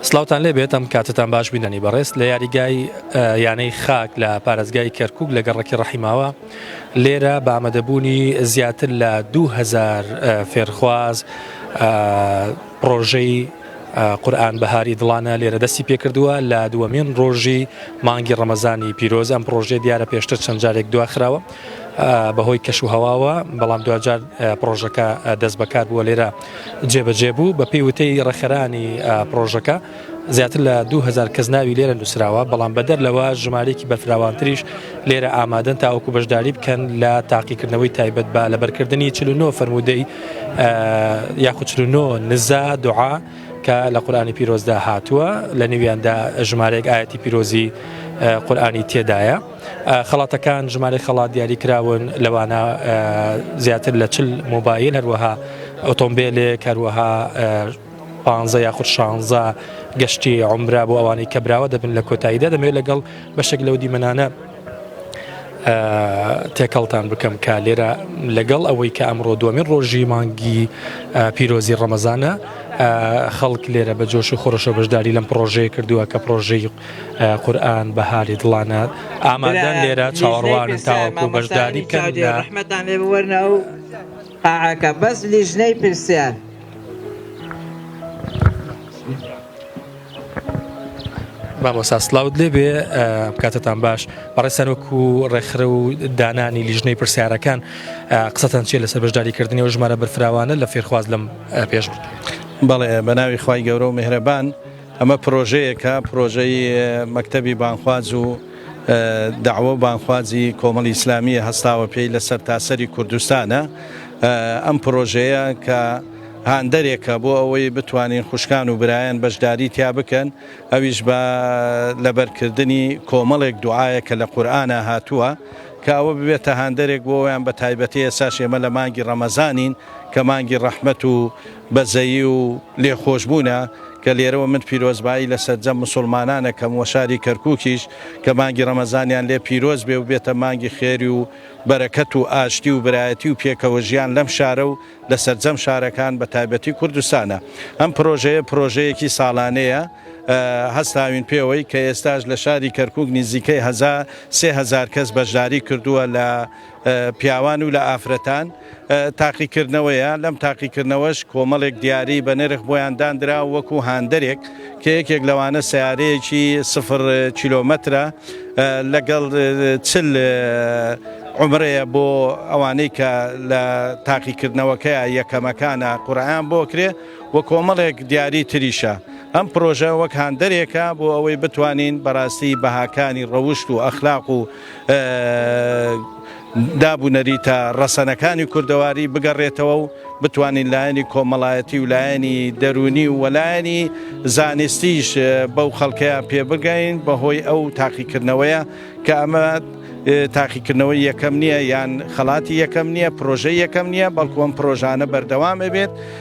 سلاوتان لێ بێت ئەم کاتتان باش بینەنی بەڕێز لە یاریگای یانەی خاک لە پارێزگای کەرکک لە گەڕکی ڕحیماوە لێرە بە ئامادەبوونی زیاتر لە 2000 فێرخواز پرۆژەی قورآن بەهاری دڵانە لێرە دەستی پێکردووە لە دووەمین ڕۆژی مانگی ڕەمەزانی پیرۆز ئەم پرۆژێ دیارە پێشتر چەند جارێک دواخراوە بەهۆی کەش و هەواوە بەڵام دوجار پرۆژەکە دەست بەکار بووە لێرە جێبەجێ بوو، بەپێی وتەی ڕێکخەرانی پڕۆژەکە زیاتر لە دوو هەزار کەس ناوی لێرە نووسراوە، بەڵام بەدەر لەوە ژمارەیەکی بەرفراوانتریش لێرە ئامادەن تاوەکو بەشداری بکەن لە تاقیکردنەوەی تایبەت بە لەبەرکردنی چل و نۆ فەرموودەی یاخود چل و نۆ نزا دوعا کە لە قورئانی پیرۆزدا هاتووە لە نێویاندا ژمارەیەک ئاەتی پیرۆزی قورئانی تێدایە. خەڵاتەکان ژمارەی خەڵات دیاری کراون لەوانە زیاتر لە چل مۆبایل هەروەها ئۆتۆمبیلێک هەروەها پانزە یاخود شانزە گەشتی عمرا بۆ ئەوانەی کە براوە دەبن لە کۆتاییدا دەمەوێت لەگەڵ بەشێک لەو دیمەنانە تێکەڵتان بکەم کە لێرە لەگەڵ ئەوەی کە ئەمڕۆ دومین ڕۆژی مانگی پیرۆزی ڕەمەزانە خەڵک لێرە بە جۆش و خۆشە بەشداری لەم پرۆژەیە کردووە کە پرۆژەی قورئان بەهاری دڵانە ئامادەن لێرە چاوەڕوانن تاوەکو بەشداری بکەن لە ڕەحمەتان لێ بوەرنە و قاعەکە بەس لیژنەی پرسیار مامۆسا سلااوت لێ بێ بکاتتان باش بەڕێ سەرۆک و ڕێکخرە و دانانی لیژنەی پرسیارەکان قسەتان چیە لەسەر بەشداریکردنی و ژمارە بەرفراوانە لە فێرخواز لەم پێش بەڵێ بە ناوی خی گەورە و مهرەبان ئەمە پرۆژەیەکە، پرۆژەی مەکتەبی بانگخواز و دەعوە و بانگخوازی کۆمەڵی ئیسلامییە هەستاوە پێی لە سەرتاسەری کوردستانە. ئەم پرۆژەیە کە هاندەرێکە بۆ ئەوەی بتوانین خوشکان و برایان بەشداری تیا بکەن، ئەویش بە لەبەرکردنی کۆمەڵێک دوعایە کە لە قورئانا هاتووە، کە ئەوە ببێتە هاندەرێک بۆ ئەویان بە تایبەتی ئێستاش ئێمە لە مانگی ڕەمەزانین کە مانگی ڕەحمەت و بەزەیی و لێخۆشبوونە کە لێرەوە من پیرۆزبایی لە سەرجەم مسوڵمانان ئەکەم وە شاری کەرکوکیش کە مانگی ڕەمەزانیان لێ پیرۆز بێ و بێتە مانگی خێری و بەرەکەت و ئاشتی و برایەتی و پێکەوە ژیان لەم شارە و لە سەرجەم شارەکان بە تایبەتی کوردستانە ئەم پرۆژەیە پرۆژەیەکی ساڵانەیە هەستاوین پێوەی کە ئێستاش لە شاری کەرکوک نیزیکەی هەزار سێ هەزار کەس بەشداری کردووە لە پیاوان و لە ئافرەتان تاقیکردنەوەیە، لەم تاقیکردنەوەش کۆمەڵێک دیاری بە نرخ بۆیان داندرا وەکو هاندەرێک کە یەکێک لەوانە سەیارەیەکی سفر کیلۆمەترە لەگەڵ چل عومرەیە بۆ ئەوانەی کە لە تاقیکردنەوەکەیە یەکەمەکانە قورعەیان بۆ کرێ و کۆمەڵێک دیاری تریشە ئەم پرۆژە وەک هاندەرێکە بۆ ئەوەی بتوانین بەڕاستی بەهاکانی ڕەوشت و ئەخلاق و داب و نەریتە ڕەسەنەکانی کوردەواری بگەڕێتەوە و بتوانین لایەنی کۆمەڵایەتی و لایەنی دەرونی و وەلایەنی زانستیش بەو خەڵکەیە پێبگەین بەهۆی ئەو تاقیکردنەوەیە کە ئەمە تاقیکردنەوەی یەکەم نییە یان خەڵاتی یەکەم نییە پرۆژەی یەکەم نییە بەڵکووەم پرۆژانە بەردەوام ئەبێت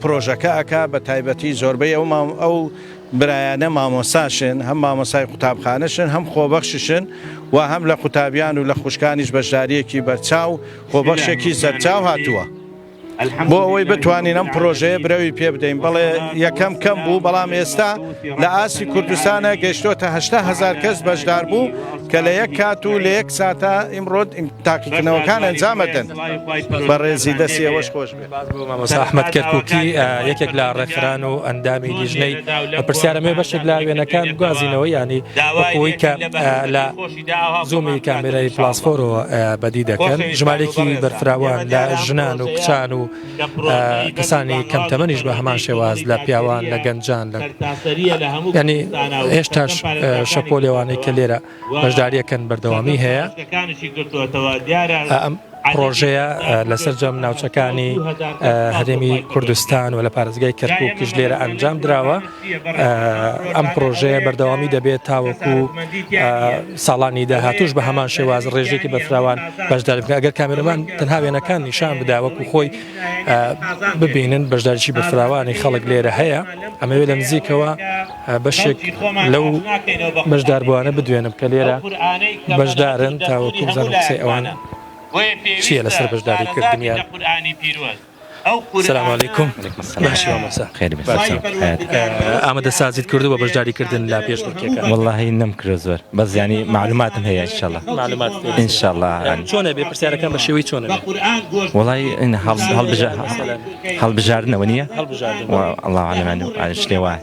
پرۆژەکە ئەکا بە تایبەتی زۆربەی ئەو مام ئەو برایانە مامۆساشن هەم مامۆسای قوتابخانەشن هەم خۆبەخششن و هەم لە قوتابیان و لە خوشکانیش بەشداریەکی بەرچاو خۆبەخشێکی سەرچاو هاتووە. بۆ ئەوەی بتوانین ئەم پرۆژەیە برەوی پێ بدەین بەڵێ یەکەم کەم بوو بەڵام ئێستا لە ئاسی کوردستانە گەشتۆتە هزار کەس بەشدار بوو کە لە یەک کات و لە یەک ساتە ئیمڕۆت تاقیکردنەوەکان ئەنجامەدەن بەڕێزی دەستی ئەوەش خۆش. سوپاس بۆ مامۆستا ئەحمەد کەرکوکی یەکێک لە ڕێکخران و ئەندامی لیژنەی پرسیارە مێ بەشێک لا وێنەکان گوازینەوە ینی بەخۆی کە لە زومی کامێرای پلاسفۆرەوە بەدی دەکەن ژمارێکی بەرفراوان لە ژنان و کچان و کەسانی کەمتەمەنیش بە هەمان شێواز لە پیاوان لە گەنجان لە ینی هێشتاش شەپۆ لێوانەی کە لێرە بەشداریەکەن بەردەوامی هەیە ئەم پرۆژەیە لەسەر جەم ناوچەکانی هەرێمی کوردستان و لە پارێزگای کەرکوکیش لێرە ئەنجام دراوە ئەم پرۆژەیە بەردەوامی دەبێت تاوەکو ساڵانی داهاتوش بە هەمان شێواز ڕێژێکی بەفراوان بەشدار بکە ئەگەر کامێرەمان تەنها وێنەکان نیشان بداوەکو خۆی ببینن بەشداریی بەفراوانی خەڵک لێرە هەیە ئەمەوێت لە نزیکەوە بەشێک لەو بەشداربووانە بدوێنم کە لێرە بەشدارن تاوەکو بزانم قسەی ئەوان چییە لەسەر بەشداری کردنیان. سلام علیکم باشی مامۆستا خێر بێت باشی ئامادە سازیت کردو بە بەشداری کردن لا پێش بڕکێکە والله نم کرد زۆر بەس ینی معلوماتم هەیە ان شاء الله معلومات ان شاء الله چۆنە بێ پرسیارەکان بە شێوەی چۆنە والله ان هەڵ هەڵ بژە هەڵبژاردنەوە نییە الله عالم شتێ وایە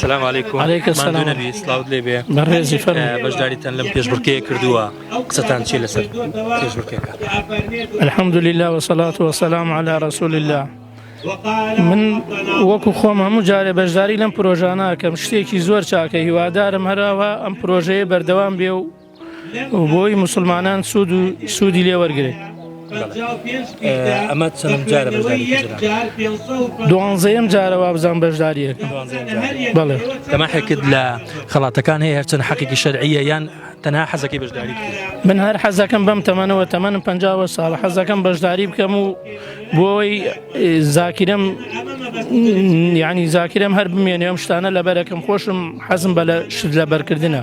سلام علیکم علیکم سلام نبی سلااوت لێ بێ بەڕێزی فەر بەشداریتان لەم پێشبڕکەیە کردووە قسەتان چی لەسەر پێشبڕکەکە الحمد لله وصلاة وسلام على رسول الله من وەکو خۆم هەموو جارێ بەشداری لەم پرۆژانەکەم شتێکی زۆر چاکە هیوادارم هەراوە ئەم پرۆژەیە بەردەوام بێ و و بۆی مسلمانان سوود و سوودی لێ وەرگێ ئەمە چەند جارە دوانزەیەم جارە وابزان بەشداریە بەڵێ تەماحێکت لە خڵاتەکان هەیە هەرچەند حەقێکی شەرعیە یان تەنها حەزەکەی بەشداری من هەر حەزەکەم بەم تەمەنەوە تەمەنم پ ساڵ حەزەکەم بەشداری بکەم و بۆی زاکرم ینی زاکرم هەر بمێنێ ئەم شتانە لەبەرەکەم خۆشم حەزم بە لە شت لەبەرکردە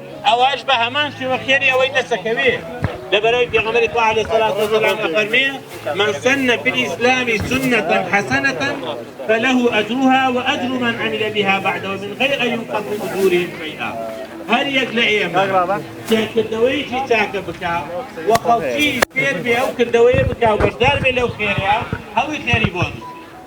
ئەوەش بە هەمان شێوە خێری ئەوەی دەسەکەوێ لەبەرەوەی پێغەمبەری خوا علیه الصلاة والسلام ئەفەرمێ من سن في الإسلام سنة حسنة فله أجرها وأجر من عمل بها بعد ومن غير أن ينقص من أجورهم شيئا هەر یەک لە ئێمە کردەوەیەکی چاکە بکە و خەڵکی فێر بێ ئەو کردەوەیە بکە و بەشدار بێ لەو خێرەیە هەڵی خێری بۆن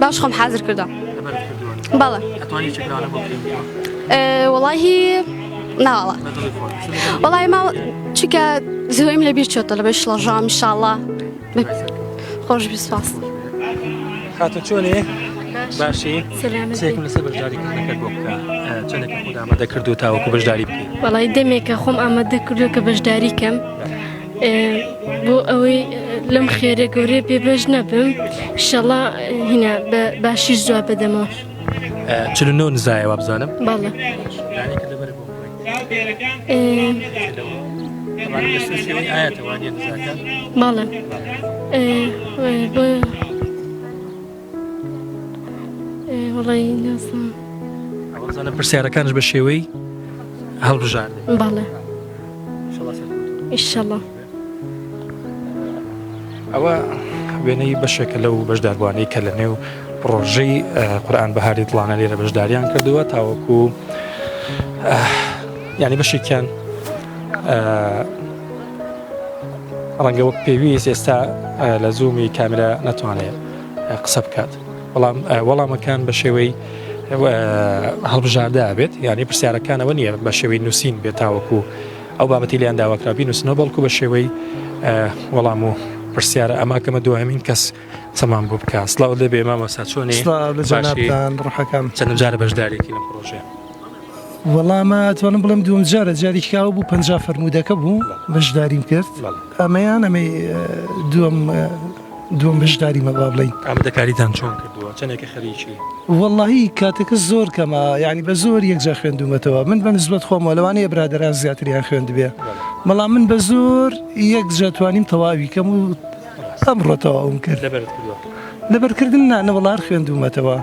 باش خۆم حازر کردم بەڵێ وڵی ناڵە وڵی ما چکە زۆیم لە بیر چۆتە لە بەش لەژام شاڵە خۆش بسپاس خاتە چۆنێ؟ باشی سێکم لەسەر بەشداری کردنەکەت بۆ بکە چەندێک خۆدا ئامادە کردو تاوەکو بەشداری بکەیت بەڵی دەمێکە خۆم ئامادە کردو کە بەشداری کەم بۆ ئەوەی لەم خێرە گەورەیە پێ بەش نەبم شەڵا هینا بە باشیش جواب بدەمەوە چل نۆ نزایە وابزانم باڵە باڵە ئەوەزانە پرسیارەکانش بە شێوەی هەڵبژار بەڵێ ئیشەڵە ئەوە وێنەی بەشێکە لەو بەشداربووانەی کە لە نێو پرۆژەی قورآان بەهاری دڵانە لێرە بەشداریان کردووە تاوەکو ینی بەشێکیان ڕەنگە وەک پێویست ئێستا لە زوومی کامرە ناتوانێت قسە بکات بەڵام وەڵامەکان بە شێوەی هەڵبژاردە بێت یعنی پرسیارەکانەوە نییە بە شێوەی نووسین بێت تاوەکو ئەو بابەتی لیان داواکرابی نووسنەوە بەڵکو بە شێوەی وەڵام و پرسیارە ئەما کەمە دوایمین کەس سەمان بۆ بکە سلااو دەبێ مامە ساچۆنی ڕحەکان چەند جارە بەشدارێکی لە پرۆژێ وەڵامە توانم بڵم دوم جارە جاریکاو بوو پ فەرمودەکە بوو بەشداریم کرد ئەمەیان ئەمەی دوم دووەم بەشداری مەبا بڵین ئامادەکاریتان چۆن کردووە چەندێکە خەریکی وەڵی کاتەکە زۆر کەمە ینی بە زۆر یەکجار خوێندومەتەوە من بە نزبەت خۆمە لەوانەیە برادران زیاتریان خوێندبێ بەڵام من بە زۆر یەک جاتوانیم تەواوی کەم و ئەم ڕۆتەوە ئەوم کرد لەبەرکردن نانە وڵار خوێندومەتەوە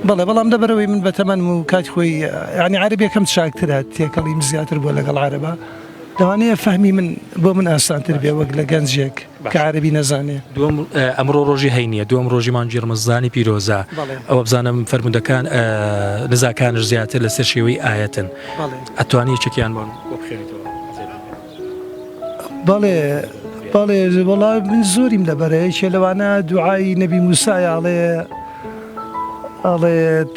بەڵێ بەڵام دەبەرەوەی من بە تەمەەن و کات خۆی ینی عربیەکەم چاکترە تێکەڵیم زیاتر بووە لەگەڵ عربە لەوانەیە فەهمی من بۆ من ئاسانتر بێ وەک لە گەنجێک. کە عەرەبی نەزانێ. دووەم، ئەمڕۆ ڕۆژی هەینییە، دووەم ڕۆژی مانگی ڕەمەزانی پیرۆزە، ئەوە بزانم فەرموودەکان نزاکانش زیاتر لەسەر شێوەی ئایەتن، ئەتوانی یەکێکیان بۆ بخوێنیتەوە؟ بەڵێ بەڵێ، وەڵا من زۆریم لەبەرە، یەکێ لەوانە دوعای نەبی موسایە ئەڵێ ئەڵێت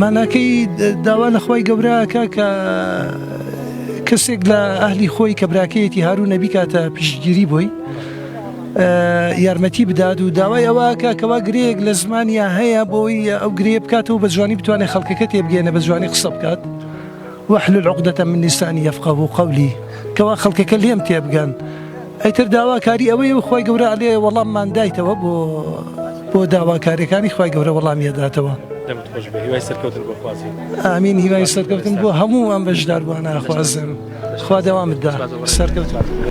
ماناکەی داوا لە خوای گەورە ئەکا کە کەسێک لە ئەهلی خۆی کە براکەیەتی هاروونە بیکاتە پشتگیری بۆی یارمەتی بدات و داوای ئەوەکە کەوا گرەیەک لە زمانیا هەیە بۆی ئەو گرێ بکاتەوە بە جوانی بتوانێت خەڵکەکە تێبگەێنە بە جوانی قسە بکات. واحلل عقدە من لسانی یفقهوا قولی، کەوا خەڵکەکە لێم تێبگەن، ئیتر داواکاری ئەوەیە و خوای گەورە ئەلێ وەڵاممان دایتەوە بۆ بۆ داواکاریەکانی خوای گەورە وەڵامی ئەداتەوە. دەمت خۆش بێ هیوای سەرکەوتن بۆ خوازین. ئامین هیوای سەرکەوتن بۆ هەموو ئەم بەشداربوانە ئەخوازم خوا دەوامت دا سەرکەوتوبی.